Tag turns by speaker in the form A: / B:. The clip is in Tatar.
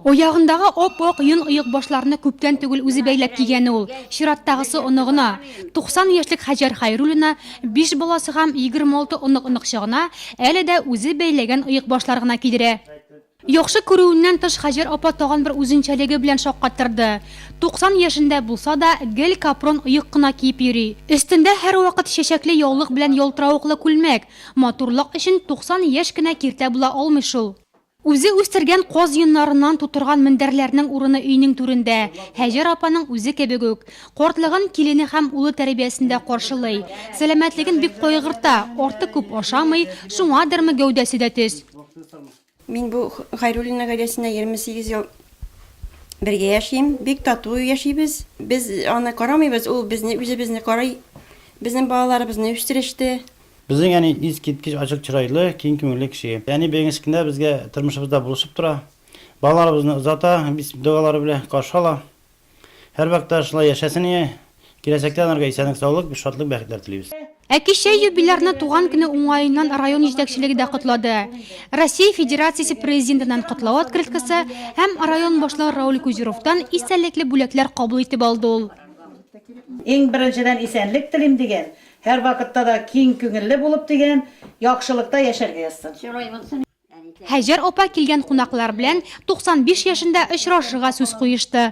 A: Аягындагы ап-ак йон оекбашларны күптән түгел үзе бәйләп кигән ул, чираттагысы оныгына. 90 яшьлек Һаҗәр Хәйруллина биш баласы һәм 26 онык-оныкчыгына әле дә үзе бәйләгән оекбашлар гына кидерә. Яхшы күрүеннән тыш Һаҗәр апа тагын бер үзенчәлеге белән шаккаттырды, 90 яшендә булса да, гел капрон оек кына киеп йөри. Өстендә һәрвакыт чәчәкле яулык белән ялтыравыклы күлмәк. Матурлык өчен 90 яшь кенә киртә була алмый шул. Үзе үстергән каз йоннарыннан тутырган мендәрләрнең урыны өйнең түрендә, Һәҗәр апаның үзе кебек үк. Картлыгын килене һәм улы тәрбиясендә каршылый. Сәламәтлеген бик кайгырта, артык күп ашамый, шуңадырмы, гәүдәсе дә төз. Мин
B: бу Хайруллина гаиләсенә егерме сигез ел бергә яшим. Бик тату яшибез. Без аны карамыйбыз, ул безне, үзебезне карый. Безнең балаларыбызны үстереште. Безнең әни
C: искиткеч ачык чырайлы, киң күңелле кеше. Әни бәйгесе көндә безгә тормышыбызда булышып тора. Балаларыбызны озата, бисмилла догалары белән каршы ала. Һәрвакытта шулай яшәсен әни. Киләчәктә анарга исәнлек-саулык, шатлык, бәхетләр телибез. Ә кичә юбилярны
A: туган көне уңаеннан район җитәкчелеге дә котлады. Россия Федерациясе Президентыннан котлау открыткасы һәм район башлыгы Рауль Кузеровтан истәлекле бүләкләр кабул итеп алды ул. Иң
D: беренчедән исәнлек телим, диген. Һәрвакытта да киң күңелле булып, дигән, яхшылыкта яшәргә язсын. Һәҗәр
A: апа килгән кунаклар белән 95 яшендә очрашырга сүз куешты.